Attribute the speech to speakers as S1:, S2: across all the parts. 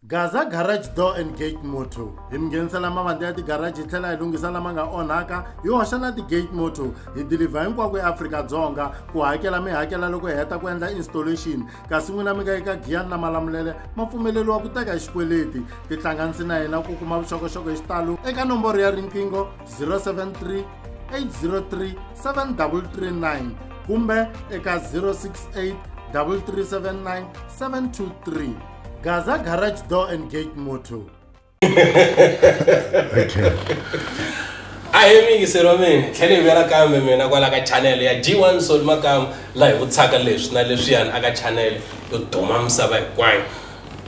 S1: Gaza Garage Door and Gate Motor hi mi nghenisela mavandla ya tigaraji hi tlhela hi lunghisa lama nga onhaka hi hoxa na ti-gate motor hi dilivha hinkwako eAfrika-Dzonga ku hakela mi hakela loko hi heta ku endla installation kasi n'wina mi nga eka giyani na malamulele ma pfumeleriwa ku teka hi xikweleti tihlanganisi na hina ku kuma vuxokoxoko hi xitalo eka nomboro ya riqingho 073 803 7339 kumbe eka 068 3379 723 Gaza garage door and gate motto. okay.
S2: a hi mi yingiseri wa mina tlhele hi vuyela kambe mina kwala ka chanele ya g1 sol makamu laha hi vutshaka leswi na leswiyani aka chanele yo duma misava hinkwayo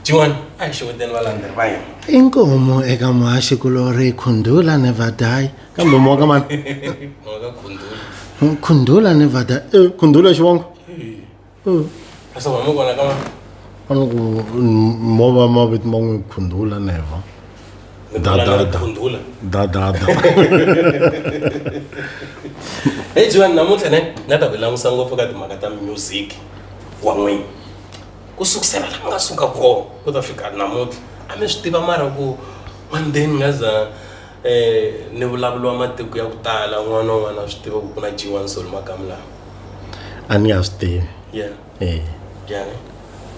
S2: g1 a hi xeweteni valandzeleri va yena i nkomo eka
S1: muhaxi kulori khundula nevadai kambe moka mani
S2: khundula nevada
S1: eh, khundula xivongo
S2: Hmm. Sasa mama Mungu ana kama anoku
S1: mova maviti man'wi khundula neva dadada
S2: khundula dadada hey jiwani namuntlha ne nga ta ku langusa ngopfu ka timhaka ta music wa n'wini ku sukusela la nga suka kona ku ta fika namuntlha a mi swi tiva mara ku one day ni nga za um ni vulavuriwa matiko ya ku tala un'wana na un'wana a swi tiva ku ku na jiwani solo makamu lawa a ni nga
S1: swi tivi yeah eh yeah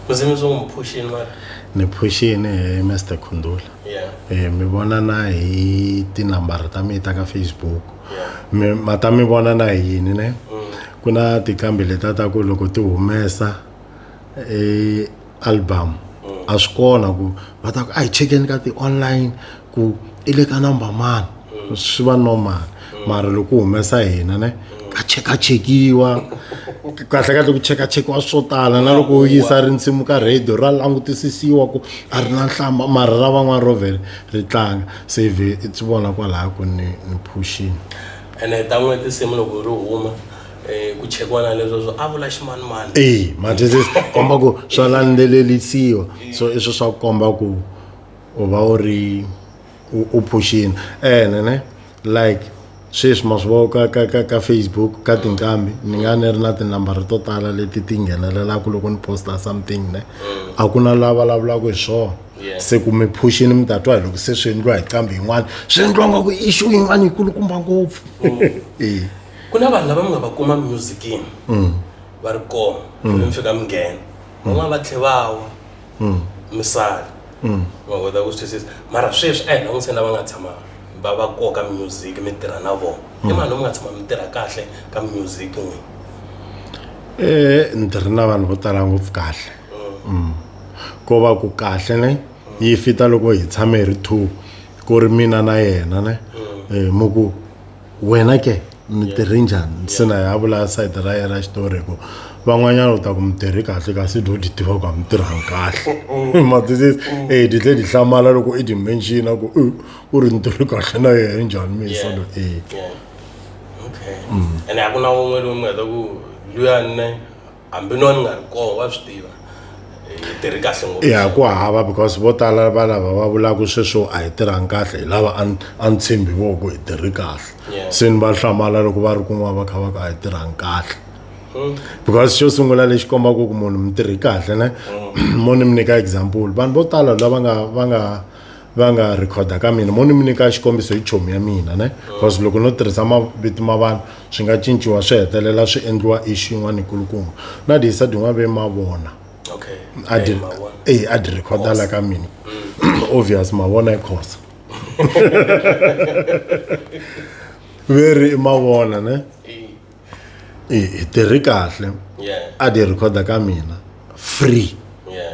S1: ku zimi
S2: swo n'wi phuxini mara ni phuxini
S1: hi mr khundula yeah eh mi
S2: vona na
S1: hi tinambara ta mina ta ka facebook yeah mi ma
S2: ta mi vona na
S1: hi yini ne mm. ku na tinqambi leta ta ku loko ti humesa eh album mm. a swi kona ku va ta ku a hi chekeni ka ti-online ku i le ka number mani mm. swi va normal mm. mara loko humesa hina ne ka chekachekiwa kahle kahle ku chekachekiwa swo tala na loko u yisa rinsimu ka radio ra langutisisiwa ku a ri na nhlamba mara ra van'wana ro vhele ri tlanga save i swi vona kwalaya ku ni ni phuxini ene ta
S2: n'we tinsimu loko ri huma Eh, ku chekiwa na leswo swo a vula ximanimani e mathesi
S1: swi komba ku swa landzelelisiwa so i swi swa ku komba ku u va u ri u- u phuxini ene ne like sweswi ma swi vona ka, ka, ka, ka facebook ka tinqambi ni nga ni ri na tinambara to tala leti ti nghenelelaka loko ni posta something ne a ku na la vulavulaka hi swona Yeah. se ku mi phuxini mi ta twa hi loko se swi endliwa hi qambi yin'wana swi endliwa nga ku issue yin'wana yi kulukumba ngopfu e
S2: ku na vanhu lava mi nga va kuma musicini mm. va ri kona mm. mi fika mi nghena van'wana va tlhe va wa mm. mi sala va kota ku swi twisisa mara sweswi a hi langutiseni lava nga tshama va va koka music mi tirha na vona i mani mi nga tshama mi tirha kahle ka music n'wini
S1: e ni tirhi na vanhu vo tala ngopfu kahle ko va ku kahle ne yi fita loko hi tshame hi ri two ku ri mina na yena ne eh, mu ku wena ke mi tirhi njhani nsina ya vula sayiti ra yena ra xitori ku van'wanyana u ta ku mi tirhi kahle kasi do di tiva ku a mi tirhangi kahle matwisisi e di tlhe di hlamala loko i di menxina ku u ri ni tirhi kahle na yena i njhani misa lo e okay ene a ku na un'we loyi
S2: mi nga ta ku luya nne hambi no ni nga ri kona wa swi tiva hi tirhi kahle ngopfu
S1: ya ku hava because vo tala va lava va vulaka sweswo a hi tirhangi kahle hi lava a ni- a ni tshembi vo ku hi tirhi kahle Yeah. se ni va hlamala loko va ri kun'wana va kha va ka a hi tirhangi kahle Hmm. because xo sungula lexi kombaka ku munhu mi tirhi kahle ne mo ni mi nyika example vanhu vo tala lava nga va nga va nga rhikhoda ka mina mo ni mi nyika xikombiso hi chomi ya mina ne because loko no tirhisa mavito ma vanhu swi nga cinciwa swi hetelela swi endliwa ixi yin'wana yikulukumba na dihisa din'wana ve ma vona okay a di e a di rhikhoda la ka mina mm. obvious ma vona yi khosa ve ri i ma vona ne hi tirhi kahle a dyi rhikhoda ka mina free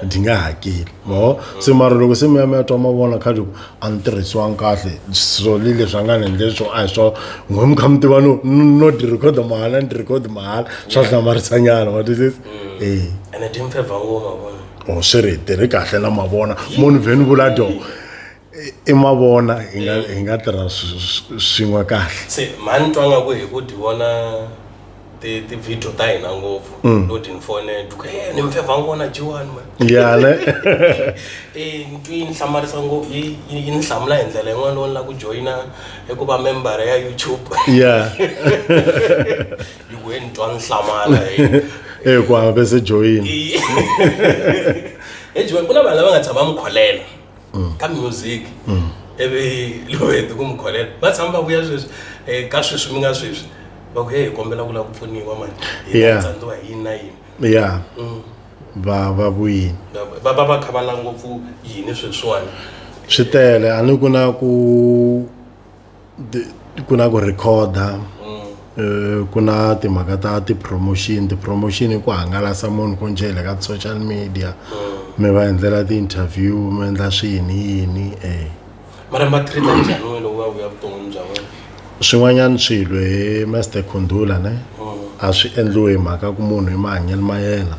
S1: ndzi nga hakeli mo se mara loko se mi ya mi ya twa mavona khale ku a ni tirhisiwangi kahle so le leswi a nga ni endle swo a hi swo n'we mi kha mi tiva no no dyi rhikhoda mahala ni dyi rhikhoda mahala swa hlamarisanyana wa twisisa mm. e ene ti mi
S2: fevha ngoma vona o swi ri hi tirhi
S1: kahle na mavona munhu vheni vula dyo i mavona hi nga hi nga tirha swin'we kahle se mhani twa nga ku
S2: hi ku ti vona ti-video ta hina ngopfu mm. lo tinfone duka e ni mfevha ngona jiwani ma yane
S1: e
S2: ntwi yi ni hlamarisa ngopfu yi ni hlamula hi ndlela yin'wana lowu ni la ku joyina i ku va membara ya youtube ya yi ku he ni twa ni hlamala e ku
S1: hava se
S2: joyina e joyina ku na vanhu lava nga tshama va mi kholela mm. ka music mm. ivi loweti ku mi kholela va tshama va vuya sweswi eh, ka sweswi mi nga sweswi va ku ye hi kombela ku lava ku pfuniwa mani hitsandziwa hi yini na yini ya mm.
S1: va va vuyini va va va kha va
S2: la ngopfu yini sweswiwani swi tele
S1: a ni ku na ku ku na ku rhekhoda eh, ku na timhaka ta ti-promotion ti-promotion i ku hangalasa munhu ku njele ka social media mi va endlela ti-interview mi endla swiyini yini um mara
S2: ma treat njhani wena wa vuya vuton'wini bya wena swin'wanyana
S1: swilo hi master khundula ne a swi endliwe hi mhaka ku munhu hi mahanyelo ma yena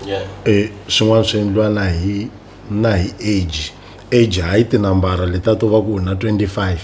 S1: yeah e swin'wana swi endliwa na hi na hi age age hayi tinambara leta to va ku u na 25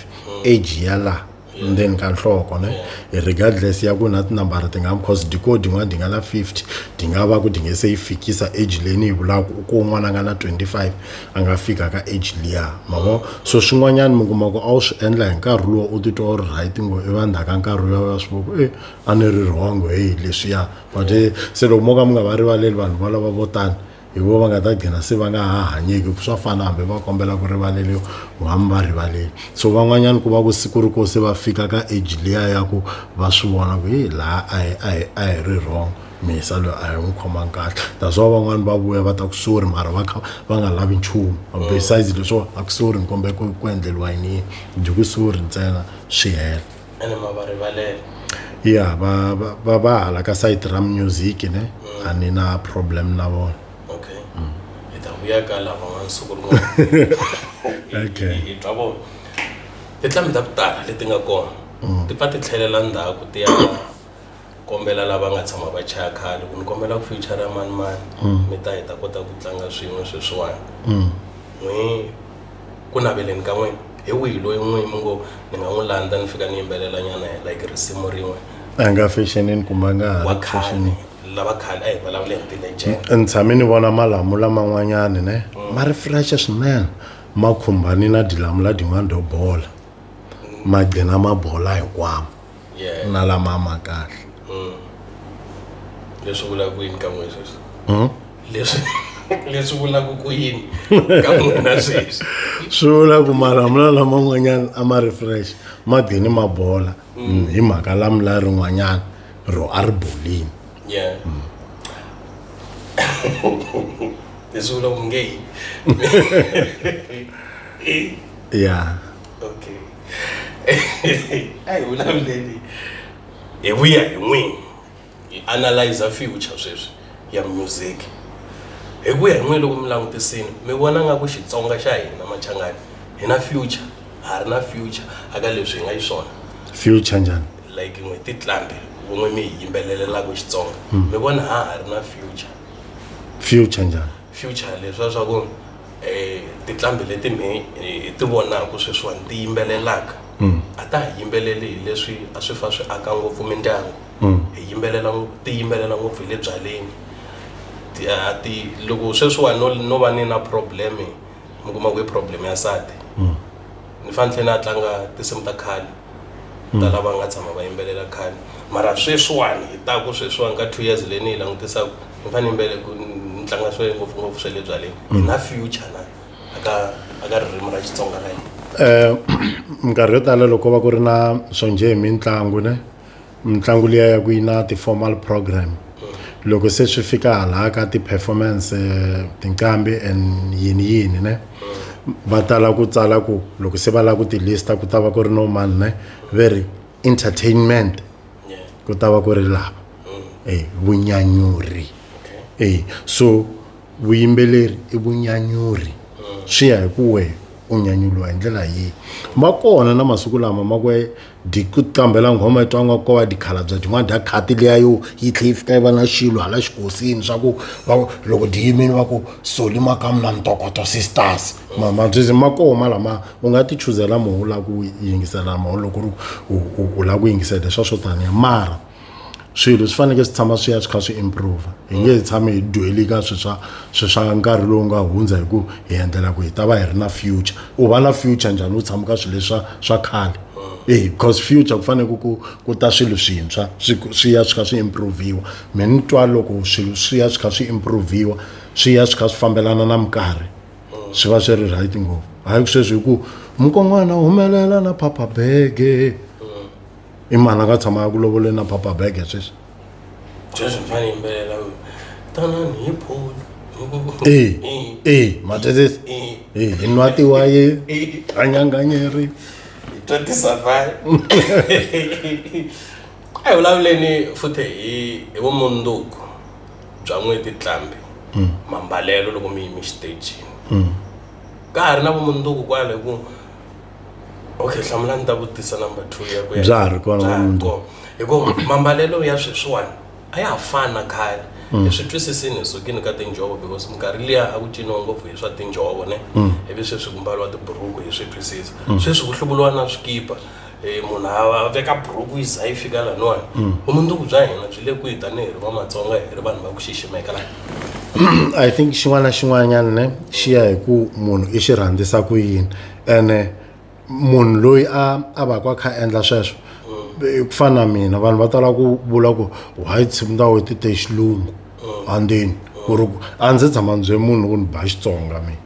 S1: age ya laha ndzeni ka nhloko ne regardless ya ku na tinambara ti nga because dikode yin'wana ti nga na 50 ti nga va ku ti nge se yi fikisa age leyi ni yi vulaka u ko un'wana a nga na 25 a nga fika ka age liya mavo so swin'wanyana mi kuma ku a wu swi endla hi nkarhi lowu u titwa u ri right ngo i va ndzhaka nkarhi lowu ya swi voko e a ni ri wrong heyi leswiya but se loko mo ka mi nga va rivaleli vanhu valava vo tani hi vo va nga ta gcina se va nga ha hanyeki swa fana hambi va kombela ku rivaleriwa hambi va rivaleli so van'wanyana ku va ku siku ri ko se va fika ka age liya ya ku va swi vona ku hi laha a hi a hi a hi ri wrong misa loyi a hi n'wi khomangi kahle that's why van'wani va vuya va ta ku sorry mara va kha va nga lavi nchumu besides leswo a ku sorry ni kombela ku ku endleriwa yini yini dye ku sorry ntsena swi hela ene ma va
S2: rivalela ya va va-
S1: va va hala ka site ra music ne a ni na problem na vona okay hi
S2: ta vuya ka lava n'wana siku rin'wana Okay. hi twa vona tinqambi ta ku tala leti nga kona ti pfa ti tlhelela ndzhaku ti ya ku kombela lava nga tshama va chaya khale ku ni kombela ku future ya mani mani mm. mi ta hi ta kota ku tlanga swin'we sweswiwani mm. n'wi ku naveleni ka n'wina hi wihi loyi n'wi mi ngo ni nga n'wi landza ni fika ni yimbelela nyana hi like risimu rin'we a nga fashionini
S1: kumbe a nga ha fashionini
S2: lava khale a hi vulavule hi ti-legend ni tshame ni vona
S1: malamula man'wanyana ne mm. ma ri fresh swinene ma khumbani na dilamula din'wana do bola ma gcina ma bola hinkwamo yeah. na lama a ma kahle mm.
S2: leswi vulaka ku yini ka n'wina sweswi hmm? leswi leswi vulaka ku yini ka n'wina sweswi swi vula ku
S1: malamula laman'wanyana a ma ri fresh ma dini ma bola mm. Hmm, hi mhaka lamula rin'wanyana ro a ri bolini yeah. mm.
S2: Eso lo nge. Yeah. okay a hi vulavuleni hi vuya hi n'wini hi analyser future sweswi ya music hi ku ya hi n'wina loko mi langutisile mi vona nga ku xitsonga xa hina machangani hi na future ha ri na future a ka leswi hi nga yi swona future njhani
S1: like n'we titlambi
S2: vun'we mi hi yimbelelelaka xitsonga mi vona ha ha ri na future
S1: future njhani future leswiya swa
S2: ku tinqambi leti mi hi ti vonaka sweswiwani ti yimbelelaka mm. a ta ha yimbeleli hi leswi a swi fa swi aka ngopfu mindyangu mm. hi yimbelela ti yimbelela ngopfu hi le byaleni a ti loko sweswiwani no no va ni na problem mi kuma ku i problem ya nsati mm. ni fanele ni tlhela ni a tlanga tinsimu ta khale mm. tala va nga tshama va yimbelela khale mara sweswiwani hi taku sweswiwani ka two years leyi ni yi langutisaka ni fanele yimbele ku ni tlanga swe ngopfungopfu swe le byaleni hi mm. na future na aka aka ririmi ra xitsonga ra yena um minkarhi
S1: yo tala loko va ku ri na swo njhe hi mitlangu ne mitlangu liya ya ku yi na ti-formal program loko se swi fika hala ka ti-performance eh, tinqambi and yini yini ne va tala ku tsala ku loko se va lava ku tilista ku ta va ku ri no mani ne ve ri entertainment ku ta va ku ri lava e vunyanyuri e so vuyimbeleri i vunyanyuri swi ya hi ku wehe u nyanyuriwa hi ndlela yihi ma kona na masiku lama ma ku dikutambela nghoma yi twangiwa ko va dikhala bya dyin'wana dya khati leya yo yi tlhe yi fika yi va na xilo hala xikosini swa ku va loko di yimini va ku soli makamu na ntokoto sisters mamabyizi ma koma lama u nga ti chuzela moho u lava ku yingisela moho loko u lava ku yingisela leswa swo taniya mara swilo swi fanekele swi tshama swi ya swi kha swi improve hi nge hi tshame hi dweli ka swi swa swi swa nkarhi lowu nga hundza hi ku hi endlela ku hi ta va hi ri na future u va na future njhani u tshama ka swilo leswa swa khale e because future ku fanele ku ku ta swilo swintshwa swi swi ya swi kha swi improviwa mi ni twa loko swilo swi ya swi kha swi improviwa swi ya swi kha swi fambelana na minkarhi swi va swi ri right ngopfu hayi ku sweswi hi ku mukon'wana humelela na phapha bege i mani a nga tshama ya ku lovoleni na papa bag ya sweswi sweswi
S2: mfana yimbelela tanani hi phone ee ee
S1: matezesi ee hi nwa tiwaye hanyanganyeri
S2: tatisa vai a hi vulavuleni futhi hi hi vumundzuku bya n'weti tlambi hmm. mambalelo loko mi yimi xitejini hmm. ka ha ri na vumundzuku kwale ku okay hlamula ni ta vutisa number two ya ku ya Bya ha ri kona Bya ha ri namuntlha.
S1: kona. hikuva
S2: mambalelo ya sweswiwani a ya ha fani na khale Mm. hi swi twisisini hi sukini ka tinjhovo because minkarhi liya a ku ciniwa ngopfu hi swa tinjhovo ne Mm. ivi sweswi ku mbariwa tiburuku hi swi twisisa Mm. sweswi ku hluvuliwa na swikipa Eh, munhu a a veka buruku yi za yi fika laniwani Mm. vumundzuku bya hina byi le kwihi tanihi ri vamatsonga hi ri vanhu va ku xiximeka laha i
S1: think xin'wana na xin'wanyana ne xi ya hi ku munhu i xi rhandzisa ku yini ene munhu loyi a a va ku a kha a endla sweswo i ku fana na mina vanhu va tala ku vula ku why tshimu ta wena ti te xilungu andzeni ku ri a ndzi tshama ndzi bye munhu ku ni ba xitsonga mina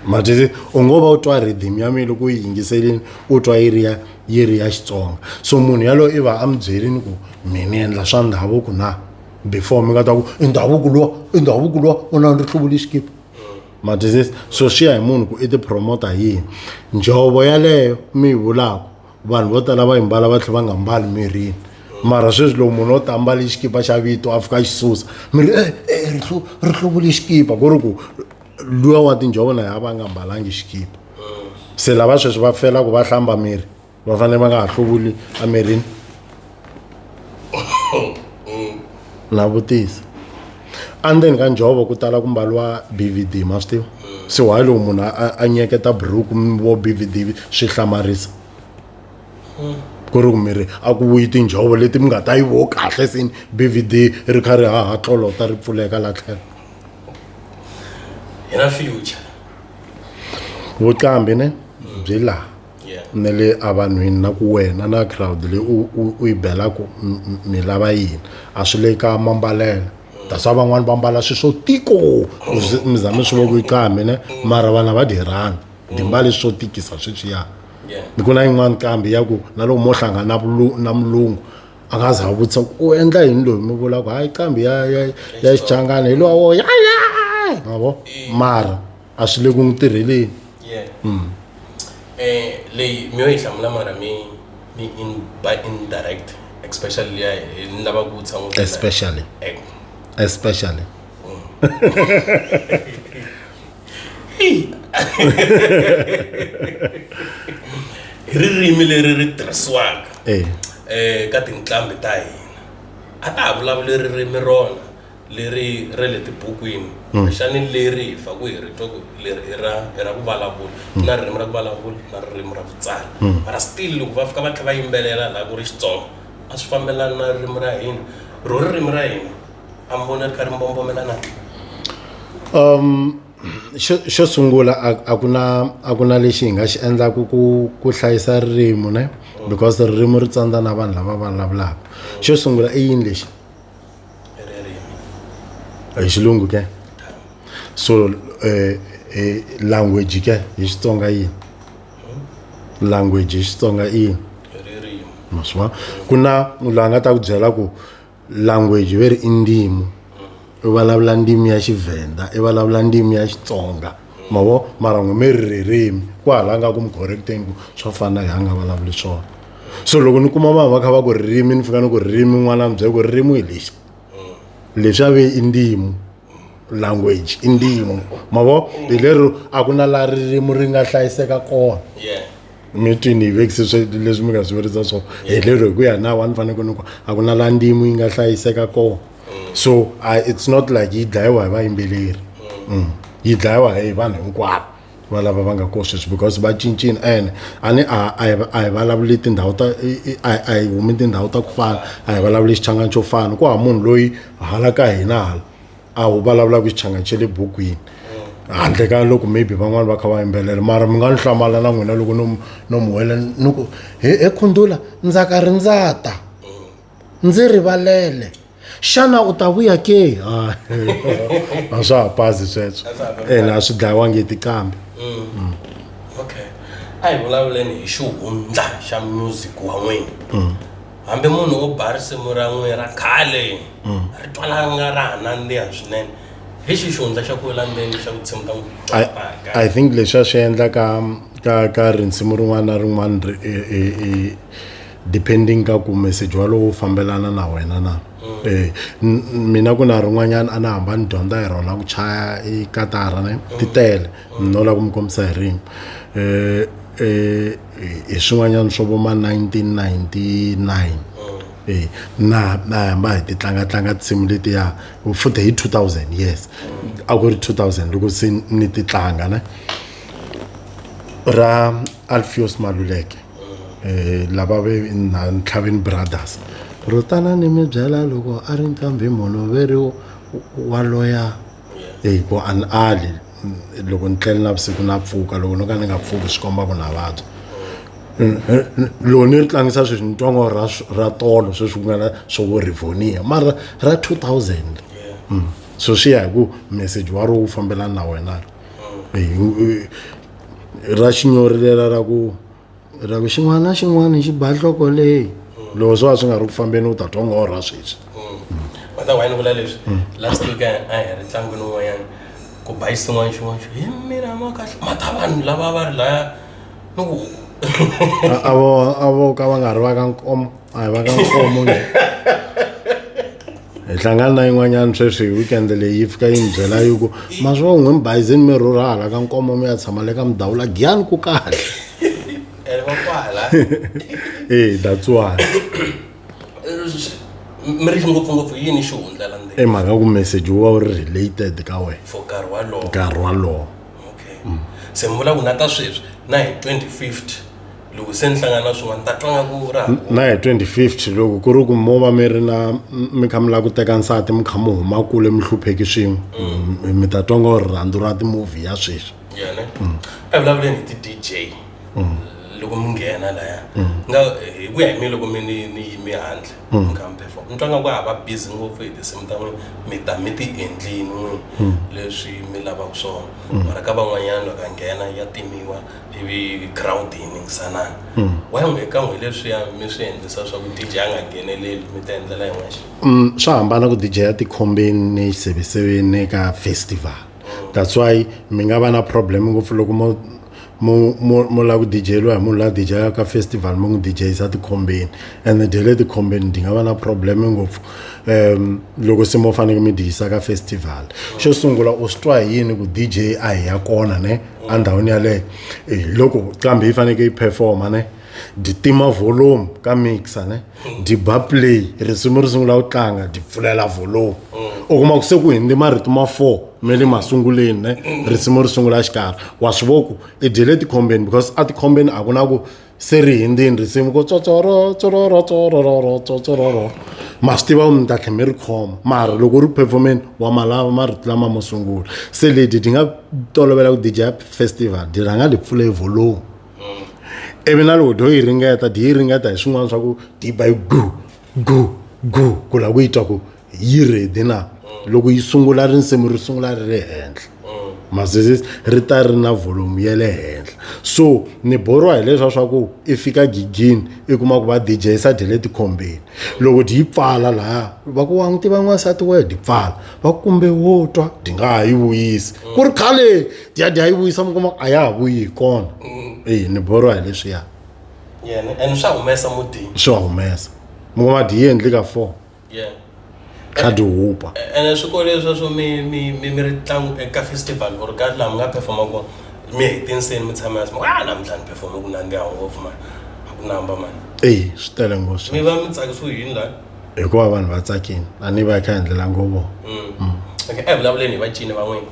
S1: matete u ngo va u twa rhythm ya mina loko u yi yingiselini u twa yi ri ya yi ri ya xitsonga so munhu yaloyo i va a mi byerini ku mina ni endla swa ndhavuko na before mi nga ta ku i ndhavuko luwa i ndhavuko luwa u na ni ri hluvule xikipa ma twisisa so swi ya hi munhu ku i tipromota hi yini njhovo yaleyo mi yi vulaka vanhu vo tala va yi mbala va tlhela va nga mbali mirini mara sweswi loko munhu o ta ambale xikipa xa vito a fika a xi susa mi ri e e ri hlu ri hluvule xikipa ku ri ku luya wa tinjhovo na ya va nga mbalangi xikipa se lava sweswi va fela ku va hlamba miri va fanele va nga ha hluvuli emirini na vutisa endzeni ka njhovo ku tala ku mbaliwa bvd ma swi tiva se why loko munhu a nyeketa buruku vo bvd swi hlamarisa ku ri ku miri a ku vuyi tinjhovo leti mi nga ta yi vo kahle sini bvd ri kha ri haha tlolota ri pfuleka la tlhelo
S2: hi na future vuqambi
S1: ne byi laha na le evanhwini na ku wena na crowd leyi u u u yi belaku mi lava yini a swi le ka mambalelo that's why van'wani va mbala swi swo tiko mi za mi swi vo ku yi qaa mina mara vanhu a va dyi rhandi dyi mbale swo tikisa sweswiya ni ku na yin'wani kambe ya ku na loko mo hlangana na na mulungu a nga za a vutisa ku u endla yini loyi mi vula ku hayi kambe ya ya ya xichangani hi lowa wo ya ya ma vo mara. a swi le ku n'wi tirheleni yeah. mm. eh,
S2: leyi mi yo yi hlamula mara mi mi in, by indirect especially leya ni lava ku vutisa n'wi especially eh.
S1: especially
S2: mm. ririmi leri ri tirhisiwaka eh. eh, ka tinqambi ta hina a ta ha vulavuli ririmi rona leri ra le tibukwini hmm. xani leri hi faku hi ri twa ku leri i ra i ra ku vulavula hmm. na ririmi ra ku vulavula na ririmi ra ku tsala hmm. mara still loko va fika va tlhe va yimbelela laha ku ri xitsonga a swi fambelani na ririmi ra hina ro ririmi ra hina a mi vona ri kha ri mbombomela na um xo
S1: xo sungula a ku na a ku na lexi hi nga xi endlaku ku ku hlayisa ririmi ne because ririmi ri tsandza na vanhu lava vulavulaka xo sungula i yini lexi hi xilungu ke so uh, uh, language ke hi xitsonga yini language hi xitsonga i yini maswa ku na munhu a nga ta ku byela ku language ve ri i ndimu i vulavula ndimi ya xivhenda i vulavula ndimi ya xitsonga mavo mara n'wi mi ri ririmi ku hala nga ku mi correcteni ku swa fana hi a nga vulavuli swona so loko ni kuma vanhu va kha va ku ririmi ni fika ni ku ririmi n'wana mi byela ku ririmi hi lexi leswi ave i ndimu language i ndimu mavo hi lero a ku na laha ririmi ri nga hlayiseka kona mi twini hi vekise swe leswi mi nga swi verisa swona hi lero hi ku ya nawa ni faneke ni ku a ku na laha ndimu yi nga hlayiseka kona so it's not like yi dlayiwa hi vayimbeleri yi dlayiwa hi vanhu hinkwavo va lava va nga ko sweswi because va cincile and a ni a a a hi vulavuli tindhawu ta a a hi humi tindhawu ta ku fana a hi vulavuli xichangani xo fana ku hava munhu loyi hala ka hina hala a wu vulavulaka xichangani xa le bukwini handle ka loko maybe van'wani va kha va yimbelela mara mi nga ni hlamala na n'wina loko no no mi wela ni ku he he khundula ndzaka ri ndzata ndzi rivalele xana u ta vuya ke a swa ha pazi sweswo ene a swi dlayiwangi hi tiqambi mm. mm.
S2: okay a hi vulavuleni hi xihundla xa music wa n'wina mm. hambi munhu wo ba risimu ra n'wina ra khale mm. ri twalanga ra ha nandziha swinene hi xi xihundla xa ku wela ndzeni xa ku tshimu ta n'wi i think leswi a swi
S1: endla ka ka ka rinsimu rin'wana na rin'wana depending ka ku message walowo wu fambelana na wena na mm. eh, mina ku na rin'wanyana a na hamba ni dyondza hi rona ku chaya i katara ne mm. ti tele mm. no la ku mi kombisa hi rin'we eh, eh, hi swin'wanyana swo vo ma 1999 eh, na na hamba hi ti tlanga tlanga tinsimu letiya futhi hi 2000 yes a ku ri 2000 loko se ni ti tlanga ne ra alfios maluleke um lava ve na ntlhavini brothers ro tala ni mi byela loko a ri nqambi munhu ve ri wa loya hi ku a ni ali loko ni tlele navusiku na pfuka loko no ka ni nga pfuki swi komba ku na vabya loko ni ri tlangisa sweswi ni twa ngo ra ra tolo sweswi ku nga na swo vo rivonia mara ra two thousand so swi ya hi ku message wa ro wu fambelana na wena ri ra xinyori lela ra ku ra ku xin'wana na xin'wana xi ba nhloko leyi loko swo va swi nga ri ku fambeni u ta twa nga orha sweswi kota why ni vula
S2: leswi last week a a hi ri ntlangwini wun'wanyana ku ba xin'wana xin'wana xo hi mina ma kahle mata vanhu lava va ri laya ni ku a a vo a vo
S1: ka va nga ri va ka nkomo a hi va ka mfumo nge hi hlangana na yin'wanyana sweswi hi weekend leyi yi fika yi ni byela yi ku maswo n'wi mi bayizini mi rhurha hala ka nkomo mi ya tshama le ka mudawula giyani ku kahle e that's why mi
S2: ri ngopfungopfu yini xihundla la i mhaka ku message wu va
S1: wu ri related ka wena for nkarhi walowo nkarhi
S2: walowo
S1: okay
S2: mm. se ni vula ku na ta sweswi na hi 2050 loko se ni hlangana na swin'wana ta twa nga ku ra na hi 2050
S1: loko ku ri ku mo va mi ri na mi kha mi lava ku teka nsati mi kha mi huma kule mi hlupheki swin'we mm. mm, mi ta twa nga rirhandzu ra timovhi ya sweswi yene
S2: mm. a hi vulavuleni hi ti-d j loko mi nghena laya nga hi ku ya hi mi loko mi ni yimi handle Mm. kambe for ni twa nga ku ha va busy ngopfu hi tinsimu ta n'wina mi ta mi ti endlini n'wini Mm. leswi mi lavaka swona Mm. mara ka van'wanyana loko a nghena ya timiwa ivi crowd yi ningisanana Mm. wayi n'wi ka n'wi leswiya mi swi endlisa leswaku dj a nga ngheneleli mi ta endlela yin'wexe Mm, swa hambana ku dj
S1: ya tikhombeni ni xiseveseveni ni ka festival that's why mi nga va na problem ngopfu loko mo mu mu mu lava ku dijeriwa hi munhu la dijelaka ka festival mi n'wi dijeyisa tikhombeni ene dye le tikhombeni ndi nga va na problem ngopfu um loko se mo faneke mi dijisa ka festival xo sungula u swi twa hi yini ku dj a hi ya kona ne endhawini yaleyo eh, loko kambe yi faneke yi performa ne nditima volume ka mixer ne diba play risimu ri sungula ku tlanga di pfulela volomu u kuma ku se ku hindi marito ma four me le masunguleni ne risimu ri sungula xikarhi wa swi vo ku i dyele tikhombeni because a tikhombeni a ku na ku se ri hindzini risimu ku tsotsoro tsororo tsororo tsororo ma swi tiva ku mi ta tlhe mi ri khoma mara loko ri performeni wa malava marito lama mo sungula se leti ti nga tolovela ku dija festival di rhanga li pfule volomu mm. ivi na loko dyo yi ringeta dyi yi ringeta hi swin'wana swa ku dyi ba yi gu gu gu ku lava ku yi twa ku yi redi na mm. loko yi sungula risimu ri sungula ri ri henhla mm. mazizisi ri ta ri na volume ya le henhla so ni borwa hileswa swa ku i fika gigini i kuma ku va dj sa dye le tikhombeni loko dyi yi pfala lahaya va ku wa n'wi tiva n'wansati wa dyi pfala va kumbe wo twa dyi nga ha yi vuyisi ku ri khale dyadya yi vuyisa mi kuma a ya ha vuyi hi kona eyi ni borwa hi leswiya yena
S2: and swa humesa mutini swi wa humesa
S1: mi kuma dyi yi endli ka four yeah kha dyi hupa ene swikolo leswi
S2: swo mi mi mi mi ri tlangu eka festival or ka laha mi nga performa kona mi hetinseni mi tshama yasi a namuntlha ni performe ku nandziha ngopfu mani a ku namba mani eyi swi tele mi ngopfu
S1: va mi tsakisiwe yini
S2: lani hikuva vanhu va
S1: tsakile a ni va yi kha hi endlela ngo vona okay
S2: evulavuleni hi vacini van'wini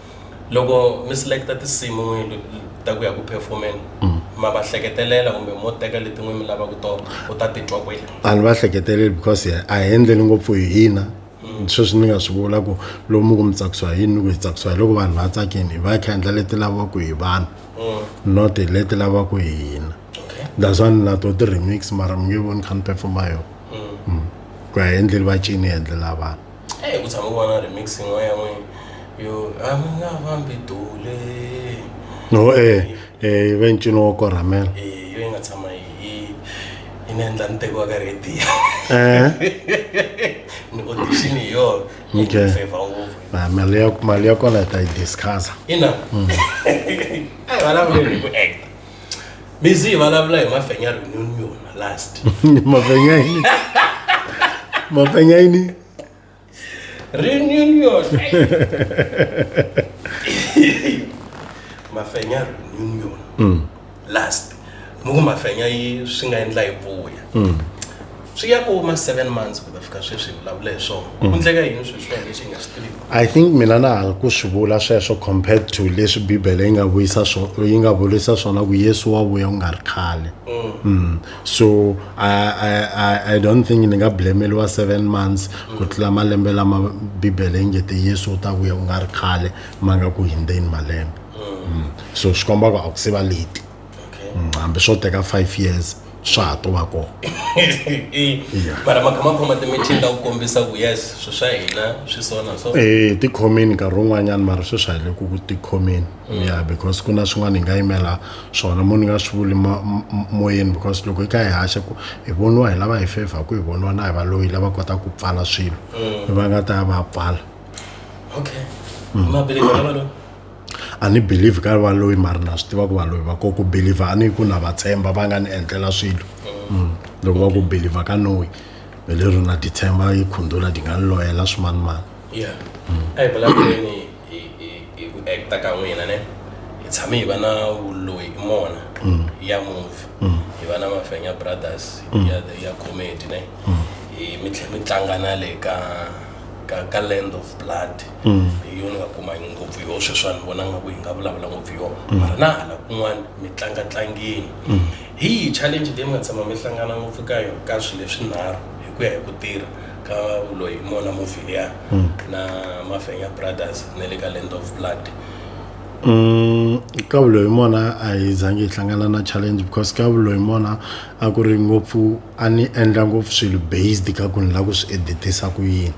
S2: loko mi selecta tinsimu n'wini ta ku ya ku performeni mm. ma va hleketelela kumbe mo teka letin'we mi lavaka tona u ta titwa kwele a ni va hleketeleli
S1: because a hi endleli ngopfu hi hina mm. sweswi ni nga swi vula ku lomu ku mi tsakisiwa hi yini ni ku hi tsakisiwa hi loko vanhu va tsakini hi va hi kha endla leti lavaka hi vanhu mm. not hi leti lavaka hi hina that's why ni na to ti-remix mara mi nge voni kha ni performa yona ku ya hi endleli va cini hi endlela vanhu eyi
S2: ku tshama vona remix yin'wana ya n'wini yo a mi nga fambi dule no
S1: e e ve ncino wo korhamela e yo yi nga tshama
S2: yi yi yi ni endla ni tekiwa ka radio eh ni audition hi yona yi Okay. ni favor ngopfu
S1: na Ah,
S2: mali ya mali ya kona hi ta yi
S1: discussa ina
S2: a hi vulavuleli hi ku acta mi zi hi vulavula hi mafenya reunion last mafenya yini
S1: mafenya yini reunion
S2: mafenya reunion mm. last muku mafenya yi swi nga endla hi vuya mm. swi ya ku ma 7 months ku ta fika sweswi hi vulavula hi swona ku
S1: endleka yini swilo swi lexi hi nga swi tivi i think mina na ha ku swi vula sweswo compared to leswi bibele yi nga vuyisa swo yi nga vulisa swona ku yesu wa vuya ku nga ri khale mm. so I, I, I, i don't think ni nga blameliwa seven months ku tlula malembe lama bibele yi nge te yesu u ta vuya ku nga ri khale ma nga ku hindzeni malembe mm. so swi komba ku a ku se va leti okay. mm, hambi swo teka five years swa ha to va kona
S2: mara makhamakhoma timitini ta ku kombisa ku yes swi swa hina swi sona so eh ti khomini nkarhi
S1: wun'wanyana mara swi swa hile ku ti khomini mm. ya because ku na swin'wana hi nga yimela swona mo ni nga swi vuli moyeni because loko hi ka hi haxa ku hi voniwa hi lava hi favor ku hi voniwa na hi va loyi lava kota ku pfala swilo mm. va nga ta ya va pfala
S2: okay mm. mabelekelo a ni
S1: believe ka va loyi mari na swi tiva ku va loyi va ko ku believe a ni ku na va tshemba va nga ni endlela swilo mm. loko va ku believe ka noyi hi lero na ti tshemba yi khundula ti nga ni loyela swimanimani yeah
S2: mm. a hi vulavuleni hi ku acta ka n'wina ne hi tshame hi va na vuloyi mona mm. ya movie mm. hi va na mafenya brothers ya ya comedy ne hi mi tlhe mi tlanga na le ka ka ka land of blood mm. hi yona nga kuma ngopfu yoho sweswa ni vona nga ku hi nga vulavula ngopfu yona mm. mara na hala kun'wana mi tlanga tlangeni mm. hi yi challenge leyi mi nga tshama mi hlangana ngopfu ka yona ka swilo leswinharhu hi ku ya hi ku tirha ka loyi mona movie liya na mafenya brothers na le ka land of blood
S1: ka vuloyi mona a hi zangi hi hlangana na challenge because ka vuloyi mona a ku ri ngopfu a ni endla ngopfu swilo based ka ku ni lava ku swi editisa ku yini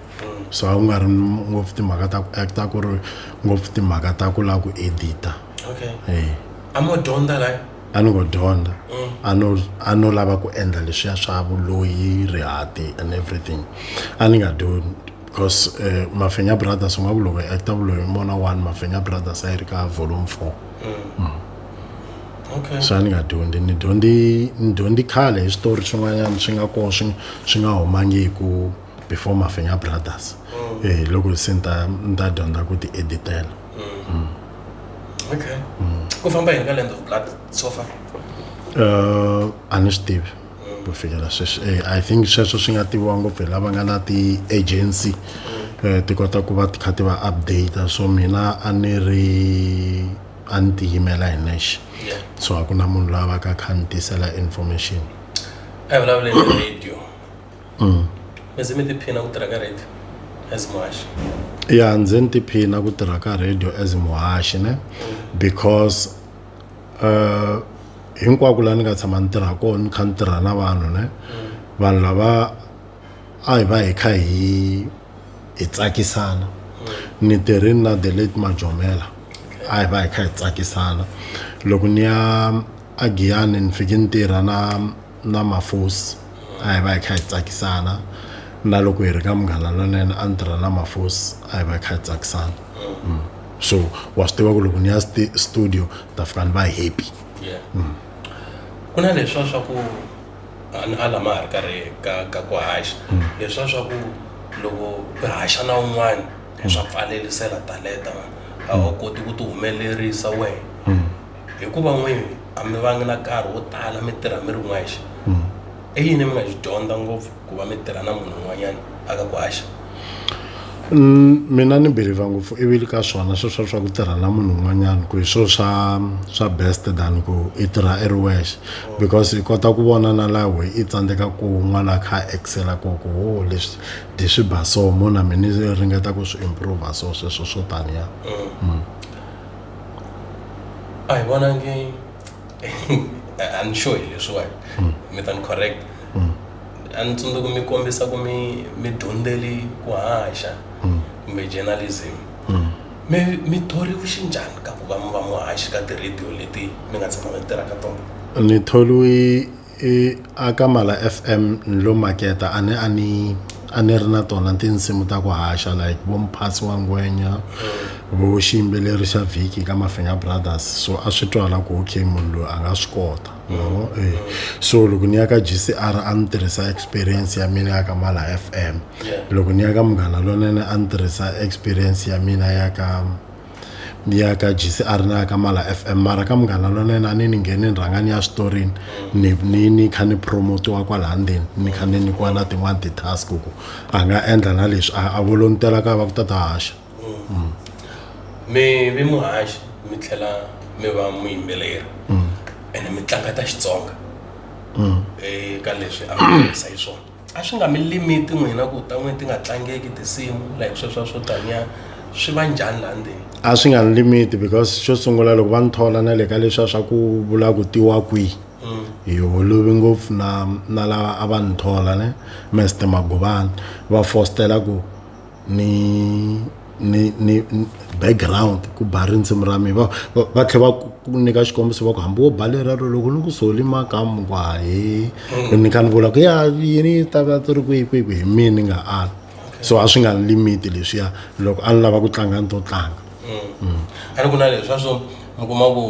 S1: so a ku nga ri ngopfu timhaka ta ku acta ku ri ngopfu timhaka ta ku lava ku edita okay eh
S2: a mo dyondza la a ni ngo dyondza
S1: mm. a no a no lava ku endla leswiya swa vuloyi rihati and everything a ni nga dyondzi because uh, mafenya brothers u nga ku loko acta vuloyi mona one mafenya brothers a yi ri ka volume four mm. Mm.
S2: okay swa ni nga dyondzi ni
S1: dyondzi ni dyondzi khale hi switori swin'wanyana swi nga kona swi swi nga humangiku before mafenya brothers mm. eh loko se ni ta ni ta dyondza ku ti editela mm. mm. okay
S2: mm. ku famba hi nga land of blood so far uh
S1: a ni swi tivi mm. ku fikela sweswi eh, i think sweswo swi nga tiviwa ngopfu hi lava nga na ti-agency mm. eh, ti kota ku va ti kha ti va update so mina a ni ri a ni tiyimela hi nexe so a ku na munhu loyi a va ka kha ni tisela information a hi
S2: vulavuleni hi radio mm. mi ze mi tiphina ku tirha ka radio as muhaxi ya ndzi ni
S1: tiphina ku tirha ka radio as muhaxi ne because uh, hinkwako laha ni nga tshama ni tirha kona ni kha ni tirha na vanhu ne vanhu lava a hi va hi kha hi hi tsakisana ni tirhi na the late majomela a hi va hi kha hi tsakisana loko ni ya agiyani ni fike ni tirha na na mafosi a hi va hi kha hi tsakisana na loko hi ri ka munghana lonene a ni tirha na mafosi a hi va hi kha hi tsakisana mm. so wa swi tiva ku loko ni ya studio ni ta fika ni va happy mm.
S2: ku na leswa swa ku a ni a lama ha ri karhi ka ka ku haxa leswiya swa ku loko u haxa na un'wana swa pfalelisela taleta a wu koti ku ti humelerisa wena hikuva n'wini a mi vangi na nkarhi wo tala mi tirha mi ri n'wexe i yini mi nga xi dyondza ngopfu ku va mi tirha na munhu un'wanyana a ka ku haxa Mm, mina
S1: ni believe ngopfu ivi le ka swona swi swa swa ku tirha na munhu un'wanyana ku hi swilo swa swa best than ku i tirha i ri wexe because i kota ku vona na laha we i tsandzeka ku n'wana a kha a excela ko ku ho leswi dyi swi ba so mo na mina ni ringeta ku swi improve so sweswo swo taniya
S2: a hi vonangi i'm sure hi leswiwani mi ta ni correct a ni tsundzuka ku mi kombisa ku mi mi dyondzeli ku haxa mm. kumbe journalism mm. mi mi thoriwe xinjhani ka ku va mi va muhaxi ka ti-radio leti mi nga tshama mi tirha ka tona ni tholiwe
S1: aka mala f m ni lo maketa a ni a ni a ni ri na tona tinsimu ta ku haxa like vo mphasi wa ngwenya mm. vo xiyimbeleri xa vhiki ka mafinga brothers so a swi twala ku okay munhu loyi a nga swi kota no eh. so loko ni ya ka gcr a ni tirhisa experience ya mina ya ka mala fm loko ni ya ka munghana lonene a ni tirhisa experience ya mina ya ka ni ya ka gcr na ya ka mala fm mara ka munghana lonene a ni ni ngheni ni rhanga ni ya switorini ni ni ni kha ni promotiwa kwalaha ndzeni ni kha ni nyikiwa na tin'wani ti-task ku a nga endla na leswi a a volontela ka va ku ta ta haxa mm. mi
S2: vi muhaxi mi tlhela mi va muyimbeleri mm. ene mi tlanga ta xitsonga mm. eka leswi a miisa hi swona a swi nga mi limiti n'wina ku ta n'wini ti nga tlangeki tinsimu like sweswa swo taniya swi va njhani laha ndzeni a swi nga ni limiti
S1: because xo sungula loko va ni thola na le ka leswiya swa ku vula ku tiwa kwihi hi holovi ngopfu na na lava a va ni thola ne mester magobani va fostela ku ni ni ni background ku ba rindzimi ra mina va va va tlhe va ku ku nyika xikombiso va ku hambi wo ba lera ro loko ni ku soli makamu ku hahe ni ni kha ni vula ku ya yini yi ta va ti ri kwihi kwihi kwihi hi mina ni nga ali so a swi nga ni limiti leswiya loko a ni lava ku tlanga ni to tlanga a
S2: ri ku na leswa swo mi kuma ku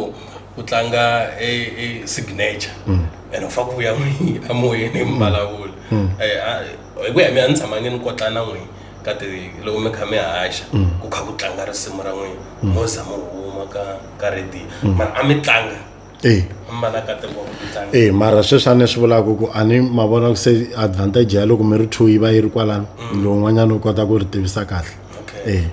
S2: ku tlanga e e signature and u fa ku ya mi- emoyeni mi vulavula Eh, a- hi ku ya mina ni tshamange ni kotla na n'wina ka ti loko mi kha mi haxa mm. ku kha ku tlanga risimu ra n'wina mm. mo za mo huma ka ka radio mm. mara a mi tlanga eh. e mara sweswi a ni swi
S1: vulaka ku a ni ma vona ku se advantage ya loko mi ri two yi va yi ri kwalano lowun'wanyana u kota ku ri tivisa kahle e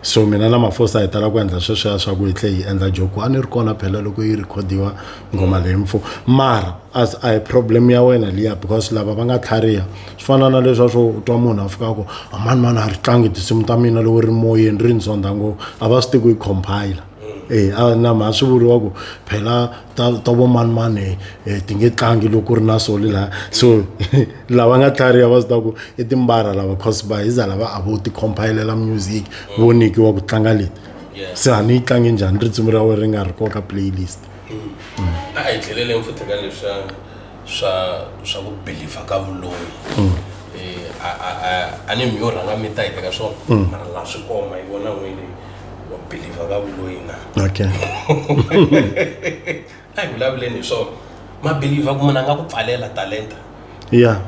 S1: so mina na mafosa hi tala ku endla sweswiya swa ku hi tlhe hi endla joku a ni ri kona phela loko yi rekhodiwa nghoma leyi mfo mara as a hi problem ya wena liya because lava va nga tlhariha swi fana na leswa swo u twa munhu a fika ku amani mani a ri tlangi tinsimu ta mina loko ri moyeni ri ni zonda ngopfu a va swi tiku yi compile e a na mha swi vuriwa ku phela ta ta vo mani mani um ti nge tlangi loko ku ri na sole laha so lava nga tlhariha va swi tiva ku i timbara lava cause va hi za lava a vo ti compile-lela music vo nyikiwa ku tlanga leti se a ni yi tlangi njhani risimu ra wena ri nga ri koka playlist a
S2: hi tlheleleni futhi ka leswa swa swa ku believer ka vuloyi mm. eh, a ni mi yo rhanga mi ta hi teka swona mm. mara laha swi koma hi vona n'wini wa believer ka vuloyi na okay a hi vulavuleni hi swona mabeliever ku munhu a nga ku pfalela talenta ya yeah.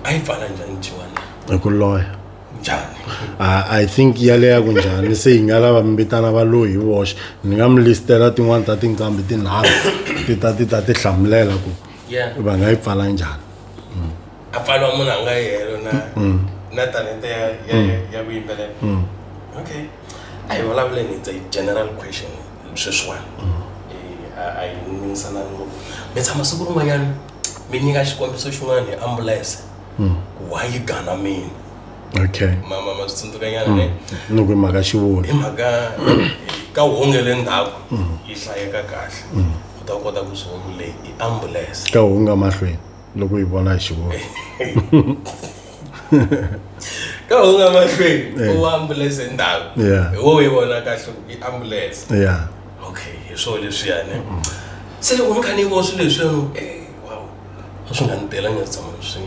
S2: ayivhala njani njiwa na hi ku loya
S1: njani
S2: Ah, i
S1: think yaleya kunjhani se hi nga lava mi vitana va loyi hi voxe ni nga mi listela tin'wani ta tinqambi tinharhu ti ta ti ta ti hlamulela ku Yeah. va nga yi pfala njhani a
S2: pfaliwa munhu a nga yi helo na na talente ya ya ya ku yimbelela okay a hi vulavuleni it's a general question sweswiwani Eh, a a yi ningisanani ngopfu mi tshama siku rin'wanyana mi nyika xikombiso xin'wana hi ambulense hmm. ku wa yi gana mina okay mama ma swi tsundzuka nyana ne hmm. loko hi mhaka xivoni
S1: hi mhaka
S2: ka honge le ndzhaku hmm. yi hlayeka kahle u ta kota ku swi vona leyi i ambulense ka honga mahlweni
S1: loko yi vona hi xivoni
S2: ka honga mahlweni eh. u ambulense ndzhaku hi wo yi vona kahle i ambulense ya okay hi swo leswiyani se loko ni kha ni vo swilo leswiyani e wow a swi nga ni tela nga tshama ni swi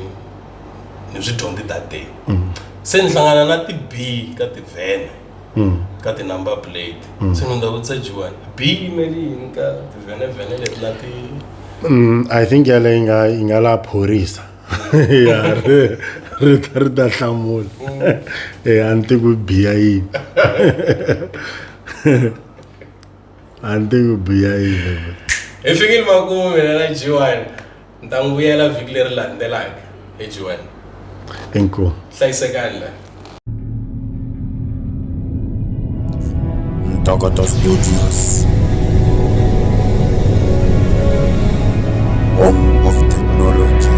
S2: ni swi dyondzi that day mm. se ni hlangana na ti-b ka tivhene mm. ka ti-number plate mm. se ni ndza vutisa jiwani b yimeli yini ka tivhenevhene leti na ti i
S1: think yaleyi nga yi nga la phorisa ya ri ri ta ri ta hlamula e a ni tiku biya yini a ni tivi biya yini hi fikile
S2: makumu mina na jiwan ni ta n'wi vuyela vhiki leri landzelaka hi jiwan inkomu
S1: hlayisekani la
S3: Ntokoto Studios. Home of technology.